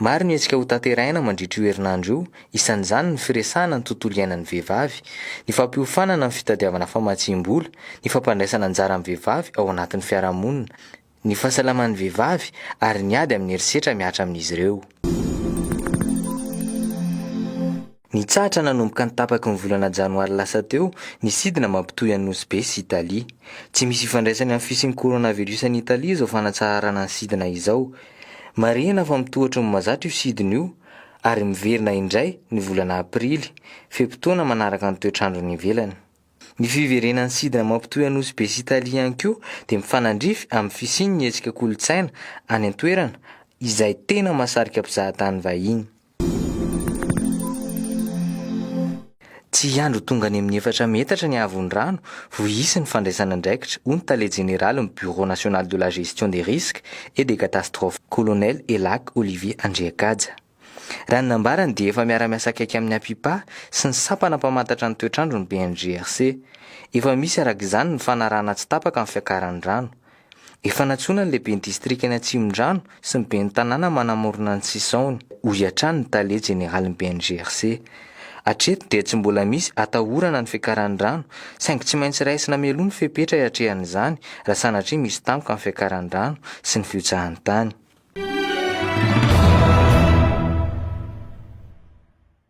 Maro ny hetsika hotanterahina mandritra io herinandro io, isan'izany ny firesahana ny tontolo iainan'ny vehivavy, ny fampiofanana ny fitadiavana famatsiam-bola, ny fampandraisana anjara amin'ny vehivavy ao anatin'ny fiarahamonina, ny fahasalaman'ny vehivavy ary ny ady amin'ny herisetra mihatra amin'izy ireo. Nitsahatra nanomboka ny tapaky ny volana janoary lasa teo ny sidina mampitohy an'i Nosy Be sy Italia. Tsy misy ifandraisany amin'ny fisian'ny coronavirus any Italia izao fanatsaharana ny sidina izao. Marihina fa mitohatry ny mahazatra io sidina io ary miverina indray ny volana aprily, fe-potoana manaraka ny toetr'andro any ivelany. Ny fiverenan'ny sidina mampitohy an'i Nosy Be sy Italia ihany koa dia mifanandrify amin'ny fisian'ny hetsika kolontsaina any an-toerana izay tena mahasarika mpizahatany vahiny. Tsy hiandry ho tonga any amin'ny efatra metatra ny haavon'ny rano vao hisy ny fandraisana andraikitra, hoy ny tale jeneralin'ny Bureau national de la gestion des risques et des catastrophes, Colonel Elac Olivier Andriakaja. Raha ny nambarany dia efa miara-miasa akaiky amin'ny Apipa sy ny sampana mpamantatra ny toetr'andro ny BNGRC. Efa misy araka izany ny fanarahana tsy tapaka ny fiakaran'ny rano. Efa nantsoina ny lehiben'ny distrikan'i Atsimondrano sy ny ben'ny tanàna manamorona ny sisaony, hoy hatrany ny tale jeneralin'ny BNGRC. Hatreto dia tsy mbola misy atahorana ny fiakaran'ny rano, saingy tsy maintsy raisina mialoha ny fepetra hiatrehan'izany raha sanatria misy tampoka ny fiakaran'ny rano sy ny fihotsahan'ny tany.